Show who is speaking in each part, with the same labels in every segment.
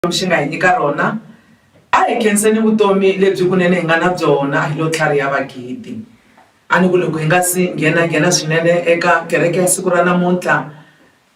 Speaker 1: Xikwembu xi nga hi nyika rona, a hi khenseni vutomi lebyi kunene hi nga na byona hi lo tlhariha vagidi. A ni ku loko hi nga si nghena-nghena swinene eka kereke ya siku ra namuntlha,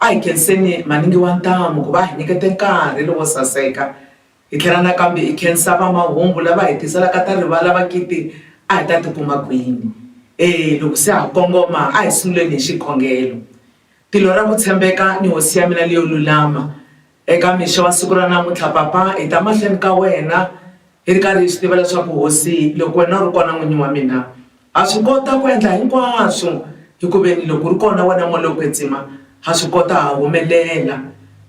Speaker 1: a hi khenseni Maningi wa Ntamu ku va a hi nyikete nkarhi lowo saseka, hi tlhela nakambe hi khensa va mahungu lava hi tiselaka ta rivala vagidi a hi ta ti kuma kwini. E, loko se ha kongoma a hi sunguleni hi xikhongelo, Tilo ra ku tshembeka ni Hosi ya mina leyo lulama, Eka mixo wa siku ra namuntlha, Papa, hi ta mahlweni ka wena hi ri karhi hi swi tiva leswaku, Hosi, loko wena u ri kona, N'winyi wa mina, ha swi kota ku endla hinkwaswo, hi ku veni loko u ri kona wena Moya lowo Kwetsima, ha swi kota, ha humelela.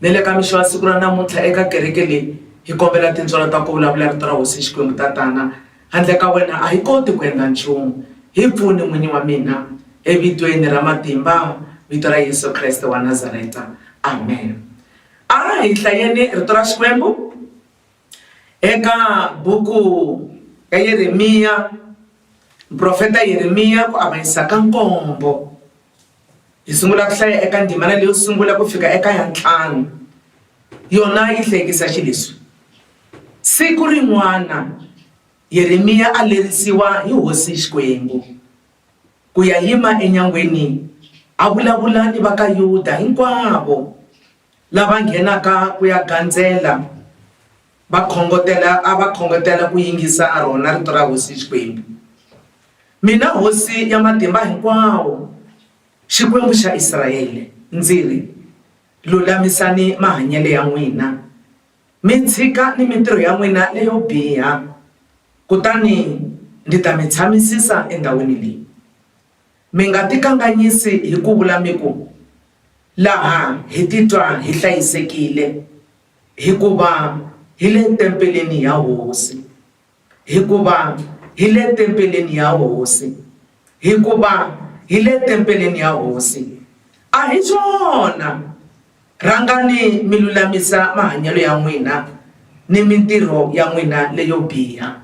Speaker 1: Ni le ka mixo wa siku ra namuntlha, eka kereke leyi, hi kombela tintswalo ta ku vulavula Rito ra Hosi Xikwembu, Tatana, Handle ka wena a hi koti ku endla nchumu. Hi pfuni, N'winyi wa mina, eVitweni ra matimba, Vito ra Yesu Kreste wa Nazareta. Amen. A hi hlayeni Rito ra Xikwembu eka buku ya Yeremiya, muprofeta Yeremiya, ku avanyisa ka nkombo. hi sungula ku hlaya eka ndzimana leyo sungula ku fika eka ya ntlhanu yona yi hlekisa xi leswi siku rin'wana yeremiya a lerisiwa hi hosi xikwembu ku ya yima enyangweni a vulavula ni va ka yuda hinkwavo lava nghenaka ku ya gandzela Va khongotela, a va khongotela ku yingisa a rona rito ra hosi Xikwembu. Mina hosi ya matimba hinkwawo, Xikwembu xa Israele, ndzi ri, Lulamisani mahanyele ya n'wina, mi tshika ni mintirho ya n'wina leyo biha, kutani ndzi ta mi tshamisisa endhawini leyi. Mi nga tikanganyisi hi ku vula mi ku, Laha hi titwa hi hlayisekile. Hikuva hi le tempeleni ya Hosi. Hikuva hi le tempeleni ya Hosi. Hikuva hi le tempeleni ya Hosi. A hi swona? Rhangani mi lulamisa mahanyelo ya n'wina ni mintirho ya n'wina leyo biha.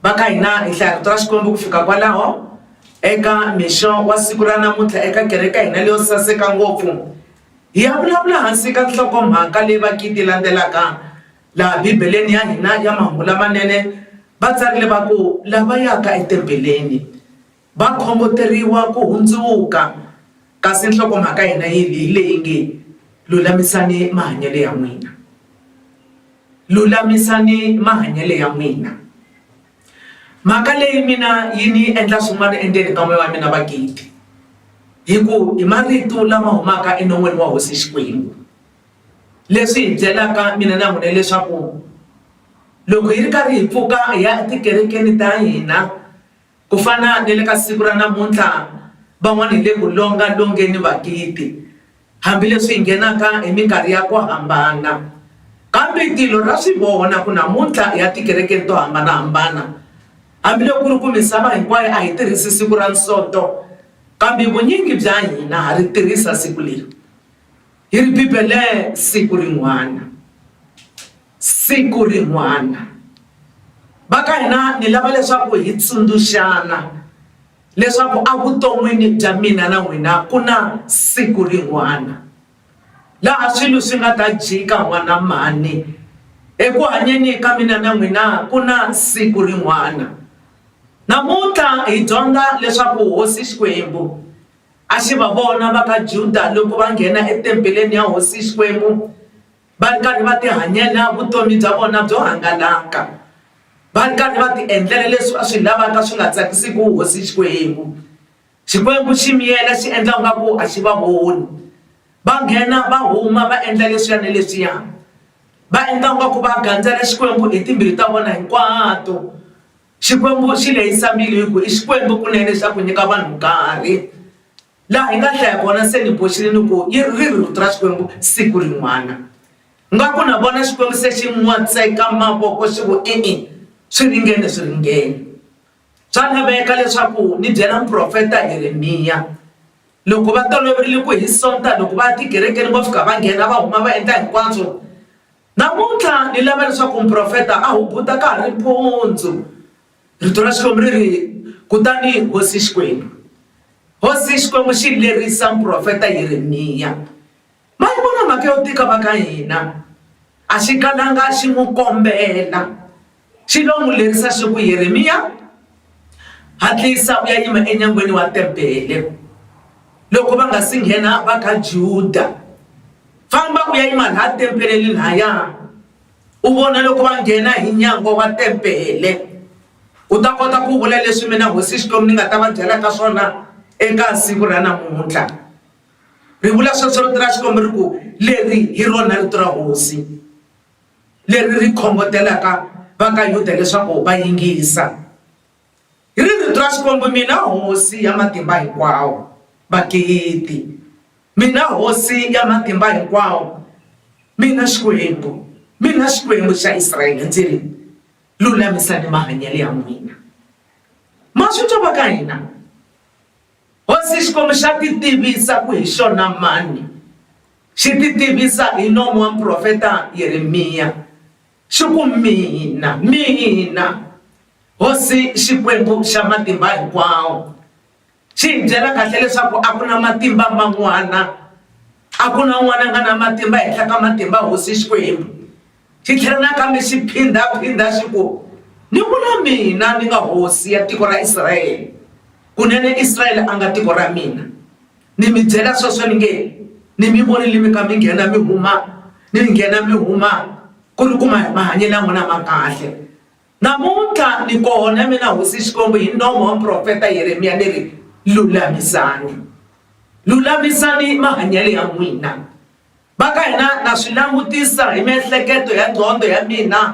Speaker 1: Va ka hina hi hlaya rito ra Xikwembu ku fika kwalaho eka mixo wa siku ra namuntlha eka kereke ya hina leyo saseka ngopfu. Hi ya vulavula hansi ka nhlokomhaka leyi vagidi landzelaka laha Bibeleni ya hina ya Mahungu Lamanene va tsarile va ku, Lava yaka etempeleni va khongoteriwa ku hundzuka. Kasi nhlokomhaka ya hina hi leyi nge, Lulamisani Mahanyelo ya N'wina. Lulamisani Mahanyelo ya N'wina. mhaka leyi mina yi ni endla swin'wana endzeni ka moya wa mina vagidi hi ku hi marito lama humaka enon'wini wa hosi xikwembu leswi hi byelaka mina na n'wina leswaku loko hi ri karhi hi pfuka hi ya etikerekeni ta hina ku fana ni le ka siku ra namuntlha van'wana hi le ku longa longeni vagidi Hambileswi hi nghenaka hi minkarhi ya ku hambana, kambe tilo ra swi vona ku namuntlha hi ya tikerekeni to hambana-hambana. Hambiloko ku ri ku misava hinkwayo a hi tirhisi siku ra Nsoto, kambe vunyingi bya hina ha ri tirhisa siku leri. Hi ri Bibele siku rin'wana. Siku rin'wana. Va ka hina ni lava leswaku hi tsundzuxana. leswaku evuton'wini bya mina na n'wina ku na siku rin'wana laha swilo swi nga ta jika n'wana mhani eku hanyeni ka mina na n'wina ku na siku rin'wana namuntlha hi dyondza leswaku hosi xikwembu a xi va vona va ka juda loko va nghena etempeleni ya hosi xikwembu va ri karhi va tihanyela vutomi bya vona byo hangalaka va ri karhi va tiendlela leswi va swi lavaka swi nga tsakisiki hosi xikwembu xikwembu xi miyela xi endla nga ku a xi va voni va nghena va huma va endla leswiya ni leswiya va endla nga ku va gandzela xikwembu hi timbilu ta vona hinkwato xikwembu xi lehisa mbilu hi ku i xikwembu kunene xa ku nyika vanhu nkarhi laha hi nga hlaya kona se ni boxile ni ku yi ri ri rito ra xikwembu siku rin'wana nga ku na vona xikwembu se xi n'watseka mavoko xi ku e-e swi ringene swi ringene swa laveka leswaku ni byela muprofeta yeremiya loko va toloverile ku hi sonta loko va tikerekeni vo fika va nghena va huma va endla hinkwaswo namuntlha ni lava leswaku muprofeta a hubuta ka ha ri mpundzu rito ra xikwembu ri ri kutani hosi xikwembu hosi xikwembu xi lerisa muprofeta yeremiya ma yi vona mhaka yo tika va ka hina a xi kalanga xi n'wi kombela xi lo n'wi lerisa xi ku yeremiya hatlisa u ya yima enyangweni wa tempele loko va nga si nghena va ka juda famba u ya yima laha tempeleni lahaya u vona loko va nghena hi nyango wa tempele u ta kota ku vula leswi mina hosi Xikwembu ni nga ta va byelaka swona eka siku ra namuntlha ri vula sweswo rito ra Xikwembu ri ku leri hi rona rito ra hosi leri ri khongotelaka va ka Yuda leswaku va yingisa. Hi ri rito ra Xikwembu, mina Hosi ya Matimba Hinkwawo, magidi, mina Hosi ya Matimba Hinkwawo, mina Xikwembu, mina Xikwembu xa Israele ndzi ri, Lulamisani mahanyelo ya n'wina. Ma swi twa va ka hina? Hosi Xikwembu xa titivisa ku hi xona mani, xi titivisa hi nomu wa muprofeta Yeremiya. Xi ku, Mina, mina, Hosi Xikwembu xa Matimba Hinkwawo, xi hi byela kahle leswaku a ku na matimba man'wana, a ku na un'wana a nga na matimba ehenhla ka matimba ya Hosi Xikwembu. Xi tlhela nakambe xi phindha-phindha xi ku, Ni ku na mina ni nga hosi ya tiko ra Israele, kunene Israele a nga tiko ra mina. Ni mi byela sweswo ni nge, Ni mi vonile mi kha mi nghena mi huma, ni mi nghena mi huma, ku ri ku mahanyelo ya n'wina ma kahle. Namuntlha ni kona, mina Hosi Xikwembu, hi nomo wa muprofeta Yeremiya ni ri, Lulamisani! Lulamisani mahanyelo ya n'wina! Va ka hina na swi langutisa hi miehleketo ya nqondo ya mina,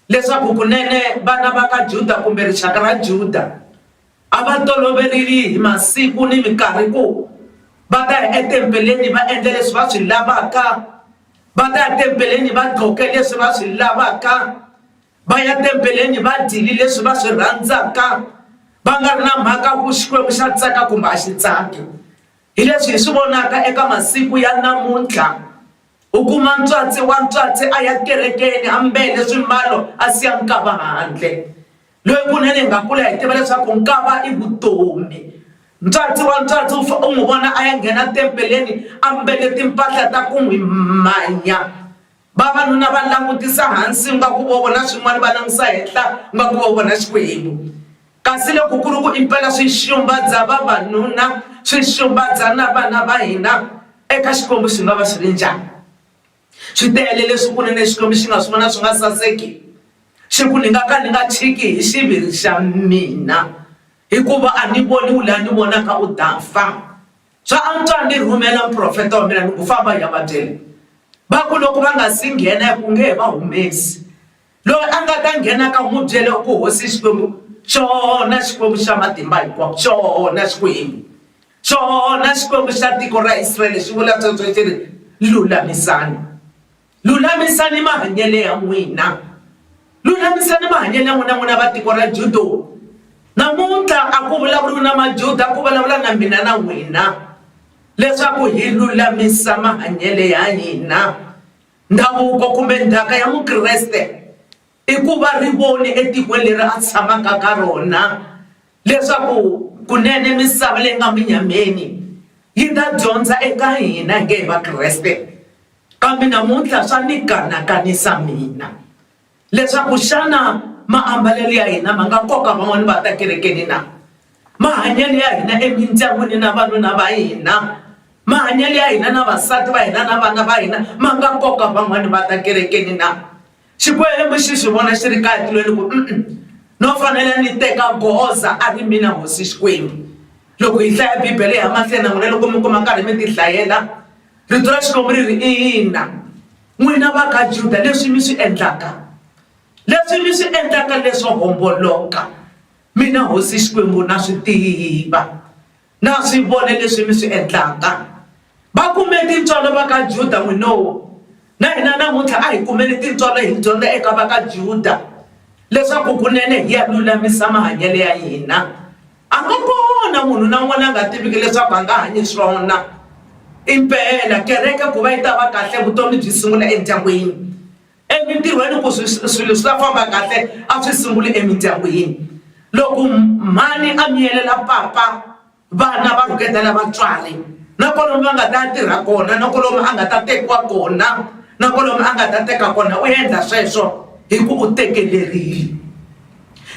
Speaker 1: leswaku kunene vana va ka Juda kumbe rixaka ra Juda a va toloverile hi masiku ni minkarhi ku va ta ya etempeleni va endla leswi va swi lavaka va ta ya tempeleni va gqoke leswi va swi lavaka va ya tempeleni va dyile leswi va swi rhandzaka va nga ri na mhaka ku xikwembu xa tsaka kumbe a xi tsaki hi leswi hi swi vonaka eka masiku ya namuntlha u kuma ntswatsi wa ntswatsi a ya kerekeni hambele swimbalo a siya nkava handle loyi kunene hi nga kula hi tiva leswaku nkava i vutomi ntswatsi wa ntswatsi u fa u n'wi vona a ya nghena tempeleni a mbele timpahla ta ku n'wi manya vavanuna va langutisa hansi nga ku vo vona swin'wana va langutisa henhla nga ku vo vona xikwembu kasi loko ku ri ku impela swi xumba bya vavanuna swi xumba bya na vana va hina eka xikwembu swi nga va swi ri njhani Swi tele leswi u ri ni Xikwembu xi nga swi vona swi nga saseki. Xi ku, Ni nga ka ni nga chiki hi xiviri xa mina, hikuva a ni voniwi laha ni vonaka u ta fa. Swa antswa ni rhumela muprofeta wa mina ni ku, Famba i ya va byela. Va ku loko va nga si nghena, ku nge he va humesi. Loyi a nga ta nghenaka n'wi byele ku hosi xikwembu xona xikwembu xa matimba hinkwawo xona xikwembu xona xikwembu xa tiko ra israyele xi vula sweswo xi ri lulamisani lulamisani mahanyele ya n'wina lulamisani mahanyele ya n'wina n'wina va tiko ra judo namuntlha a ku vulavuriwi na majuda ku vulavula na mina na n'wina leswaku hi lulamisa mahanyele ya hina Ndhavuko kumbe ndzhaka ya mukreste i ku va ri voni etikweni leri a tshamaka ka rona leswaku kunene misava leyi nga minyameni yi ta dyondza eka hina hi nge hi vakreste kambe namuntlha swa ni kanakanisa mina. leswaku xana maambalelo ya hina ma nga koka van'wana va ta kerekeni na mahanyelo ya hina emindyangwini na vanuna va hina mahanyelo ya hina na vasati va hina na vana va hina ma nga koka van'wana va ta kerekeni na xikwembu xi swi vona xi ri kaya tilweni ku no fanele ni teka goza a ri mina hosi xikwembu loko hi hlaya bibele ya mahlweni na n'wina loko mi kuma nkarhi mi ti hlayela rito ra xikwembu ri ri ina n'wina va ka juda leswi mi swi endlaka leswi mi swi endlaka leswo homboloka mina hosi xikwembu na swi tiva na swi vona leswi mi swi endlaka va kume tintswalo va ka juda n'winowo na hina namuntlha a hi kumele tintswalo hi dyondza eka va ka juda leswaku kunene hi ya lulamisa mahanyelo ya hina A nga kona munhu na un'wana la nga tiviki leswaku a nga hanye swona. Impela kereke ku va yi ta va kahle vutomi byi sungula endyangwini, emintirhweni ku swilo swi ta famba kahle a swi sunguli emindyangwini. Loko mhani a miyelela papa vana va rhuketela vatswari na kwalomu va nga ta ya tirha kona na kwalomu a nga ta tekiwa kona na kwalomu a nga ta teka kona u endla sweswo hi ku u tekelerile.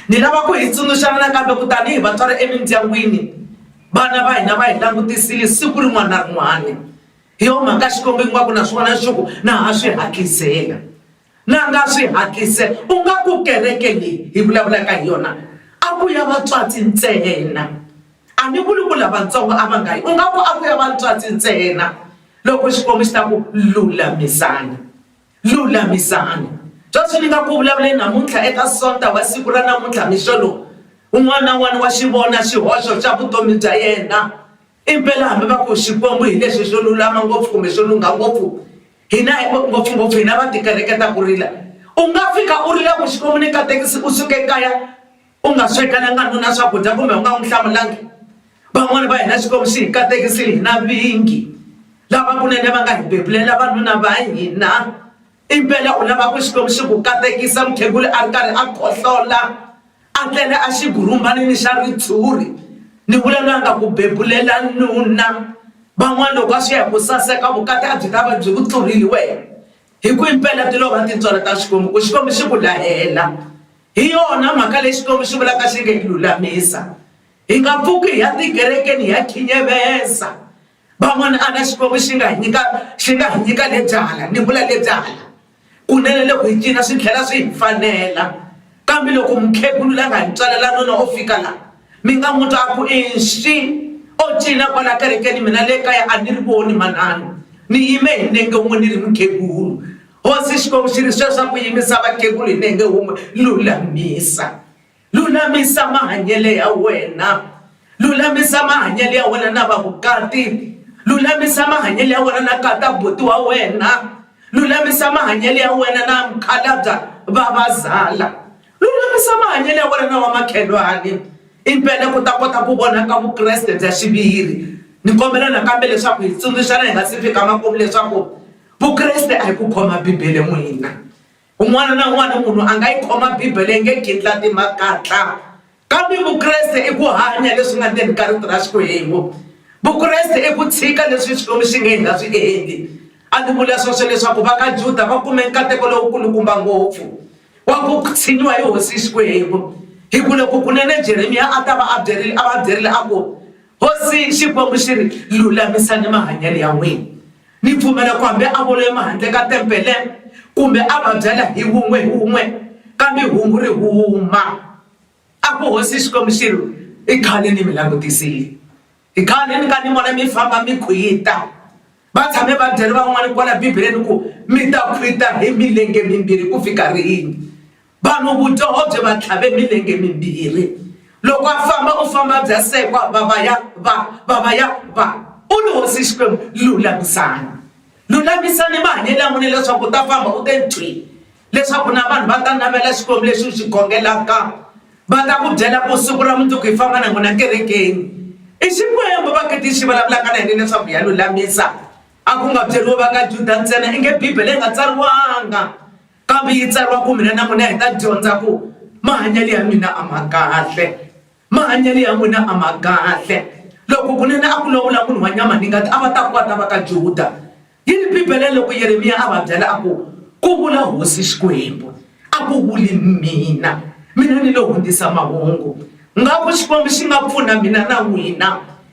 Speaker 1: Ni lava ku hi tsundzuxana nakambe ku tanihi vatswari emindyangwini vana va hina va hi langutisile siku rin'wana na rin'wana hi yo mhaka xikwembu ingaku na swona xi ku na ha swi hatlisela na nga swi hatlisela u nga ku kereke leyi hi vulavulaka hi yona a ku ya vatswatsi ntsena a ni vuli ku lavatsongo a va nga yi u nga ku a ku ya vatswatsi ntsena loko xikwembu xi ta ku lulamisana. Lulamisani. Sweswi ni nga ku vulavuleni namuntlha eka Sonta wa siku ra namuntlha mixo lowu, un'wana na un'wana wa xi vona xihoxo xa vutomi bya yena. Impela hambi va ku Xikwembu hi lexi xo lulama ngopfu kumbe xo lungha ngopfu, hina hi ku ngopfungopfu hina va tikereke ta ku rila, u nga fika u rila ku Xikwembu ni katekisi u suke kaya, u nga swekelanga nuna swakudya kumbe u nga n'wi hlamulangi van'wani va hina xikwembu xi hi katekisile hi na vingi lava kunene va nga hi bebulela vanuna va hina impela u lava ku xikwembu xi ku katekisa mukhegula a ri karhi a khohlola a tlele a xi gurumbanini xa ritshuri ni vula loyi a nga ku bebulela nuna van'wana loko a swi ya hi ku saseka vukati a byi ta va byi ku tluriliweke hi ku impela ti lova tintswalo ta xikwembu ku xikwembu xi ku lahela hi yona mhaka leyi xikwembu xi vulaka xi nge hi lulamisa hi nga pfuki hi ya tikerekeni hi ya khinyeveza van'wana a na xikwembu xi nga hi nyika xi nga hi nyika le byala ni vula le byala kunene loko hi cina swi tlhela swi hi fanela Kambe loko mukhegulu la nga hi tswalela nuna o fika la mi nga n'wi twa a ku inxi o cina kwala kerekeni mina le kaya a ni ri voni manana ni yime hi nenge wun'we ni ri mukhegulu hosi xikwembu xi ri sweswa ku yimisa vakhegulu hi nenge wun'we lulamisa lulamisa mahanyele ya wena Lulamisa mahanyelo ya wena na vavukati, lulamisa mahanyelo ya wena na kata buti wa wena, lulamisa mahanyelo ya wena na mukhalabya vavazala, lulamisa mahanyelo ya wena na vamakhelwani impela ku ta kota ku vonaka Vukreste bya xiviri. Ni kombela nakambe leswaku hi tsundzuxana hi nga si fika makumu leswaku Vukreste a hi ku khoma Bibele n'wina. Un'wana na un'wana munhu a nga yi khoma Bibele yi nge gindlati makatla kambe Vukreste i ku hanya leswi nga ndzeni ka rito ra Xikwembu Vukreste i ku tshika leswi Xikwembu xi nge hi nga swi endli a ni vula sweswo leswaku va ka Juda va kume nkateko lowukulukumba ngopfu wa ku tshinyiwa hi hosi Xikwembu hi ku loko kunene Jeremiya a ta va a byerile a va byerile a ku hosi Xikwembu xi ri lulamisani mahanyelo ya n'wina Ni pfumela ku hambi a vula emahandle ka tempele kumbe a va byela hi wun'we hi wun'we, kambe hungu ri huma, A ku hosi Xikwembu xi ri, I khale ni mi langutisile. I khale ni ka ni vona mi famba mi khwita. Va tshame va byele van'wana kwala Bibeleni ku, Mi ta khwita hi milenge mimbirhi ku fika rini? Vanhu vudyoho byi va tlhave milenge mimbirhi. Loko a famba u famba bya sekwa va va ya va va va ya va. U ri, Hosi Xikwembu, lulamisani. Lulamisani mahanyelo ya n'wina leswaku u ta famba u te thwi, leswaku na vanhu va ta navela Xikwembu lexi u xi khongelaka, va ta ku byela ku siku ra mundzuku hi famba na n'wina kerekeni. I Xikwembu vhakiti yi xi vulavulaka na hina leswaku hi ya lulamisa, a ku nga byeriwi va ka Juda ntsena, inge Bibele yi nga tsariwanga. Kambe yi tsariwa ku mina na n'wina hi ta dyondza ku mahanyelo ya mina a ma kahle mahanyelo ya n'wina a ma kahle loko kunene a ku lovola munhu wa nyama ni ngati a va ta ku va ta va ka juda yi ni bibele loko yeremiya a va byela a ku ku vula hosi xikwembu a ku vuli mina mina ni lo hundzisa mahungu nga ku xikwembu xi nga pfuna mina na n'wina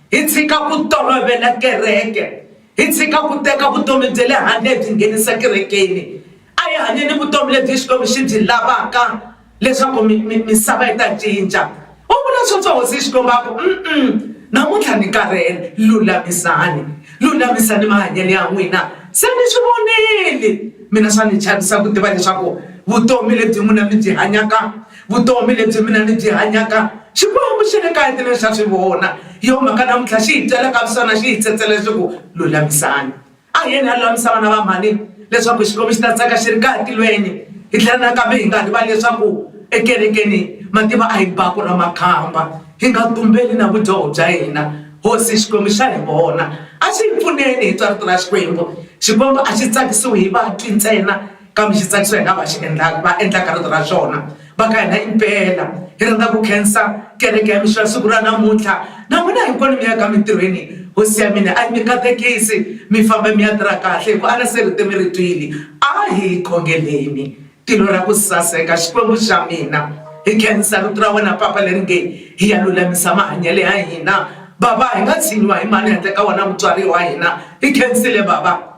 Speaker 1: hi tshika ku tolovela kereke Hi tshika ku teka vutomi bya le handle hi byi nghenisa kerekeni. A hi hanyeni vutomi lebyi Xikwembu xi byi lavaka leswaku mi, mi, misava yi ta cinca. U vula sweswo Hosi Xikwembu a ku, Um-um, namuntlha ni karhele. Lulamisani. Lulamisani mahanyelo ya n'wina. Se mi swi vonile. Mina swa ni chavisa ku tiva leswaku vutomi lebyi n'wina mi byi hanyaka, vutomi lebyi mina ni byi hanyaka xikwembu xi ri kahle leswi a swi vona hi yo mhaka namuntlha xi hi byela ka swisana xi hi tsetsela leswaku lulamisani a hi yeni a lulamisa vana va mhani leswaku xikwembu xi ta tsaka xi ri kahle tilweni hi tlhela nakambe hi nga rivali leswaku ekerekeni mativa a hi baku ra makhamba hi nga tumbeli na vudyoho bya hina hosi xikwembu xa hi vona a xi hi pfuneni hi twa rito ra xikwembu xikwembu a xi tsakisiwi hi vatwi ntsena Kambe xi tsakisa hi nga va xi endlaka va endlaka rito ra xona va ka hina impela hi rhandza ku khensa kereke ya mixo ya siku ra namuntlha na n'wina hinkwenu mi yaka mintirhweni hosi ya mina a yi mi katekisi mi famba mi ya tirha kahle hi ku a ri se rito mi ri twile a hi yi khongeleni tilo ra ku saseka xikwembu xa mina hi khensa rito ra wena papa leri nge hi ya lulamisa mahanyelo ya hina bava hi nga tshinyiwa hi mani handle ka wena mutswari wa hina hi khensile bava.